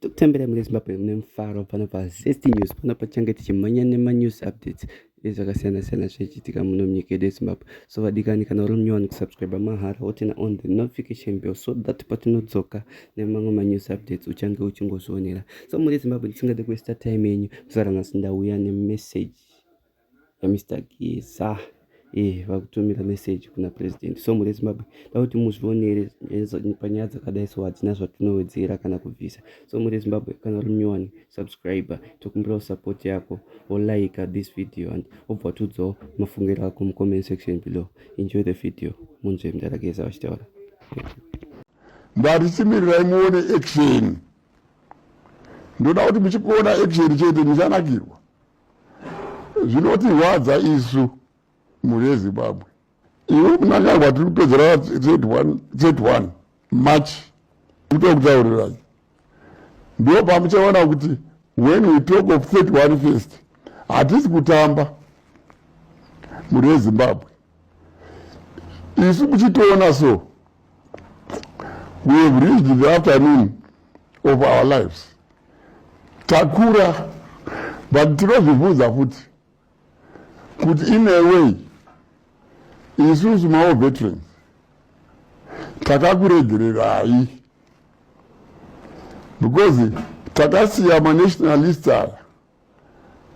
tokutambira mune zimbabwe mune mufaro pano pazest news pano pachange tichimhanya nemanews updates ezvakasiyana-siyana zvichiitika muno munyika yedu yezimbabwe so vadikani kana uri munyowani kusubscribe mahara wotena on the notification bill so that patinodzoka nemamwe manews updates uchange uchingozvionera so muri zimbabwe ndisingade kuesta time yenyu kusara nhasi ndauya nemessage Mister Geza eh vakutumira message kuna president so mune Zimbabwe takuti muzvionere panyaya dzakadai so hadzina zvatinowedzera kana kubvisa so mune Zimbabwe kana uri munyowani subscriber tokumbirawo support yako wolaika this video and wobva watiudzawo mafungiro ako mucomment section below enjoy the video munzwe mdara Geza vachitaura ndarisimirirayi muone action ndoda kuti muchikuona action chete muchanakirwa zvinotirwadza isu mhuri yezimbabwe iwe munangagwa tiri kupedzera 31 march kuto kutaurirai ndo pamuchaona kuti when we talk of 31 first hatisi kutamba mhuri yezimbabwe isu kuchitoona so we have reached the afternoon of our lives takura but tinozvibvunza futi kuti in a way isusu mawo veterans takakuregererai because takasiya manationalist aya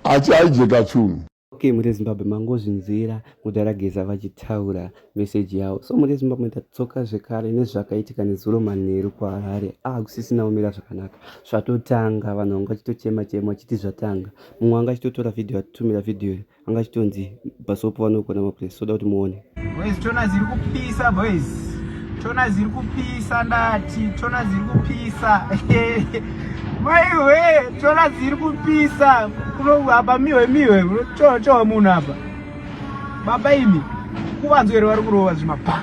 achiaijeka chunhu ok murezimbabwe mangozvinzwira mudhara geza vachitaura meseji yavo so murezimbabwe tatsoka zvekare nezvakaitika nezuro manheru kuharare akusisina ah, umira zvakanaka zvatotanga vanhu vanga vachitochema chema vachiti zvatanga mumwe anga achitotora vhidhiyo atitumira vhidhiyo anga achitonzi basopo vanogona mapuresi soda kuti muone Boys tona ziri kupisa boys. Tona ziri kupisa ndati, tona ziri kupisa. Maiwe, tona ziri kupisa. Kuno hapa miwe miwe, cho cho munhu hapa. Baba imi, kuvanzwere vari kurova zvimapa.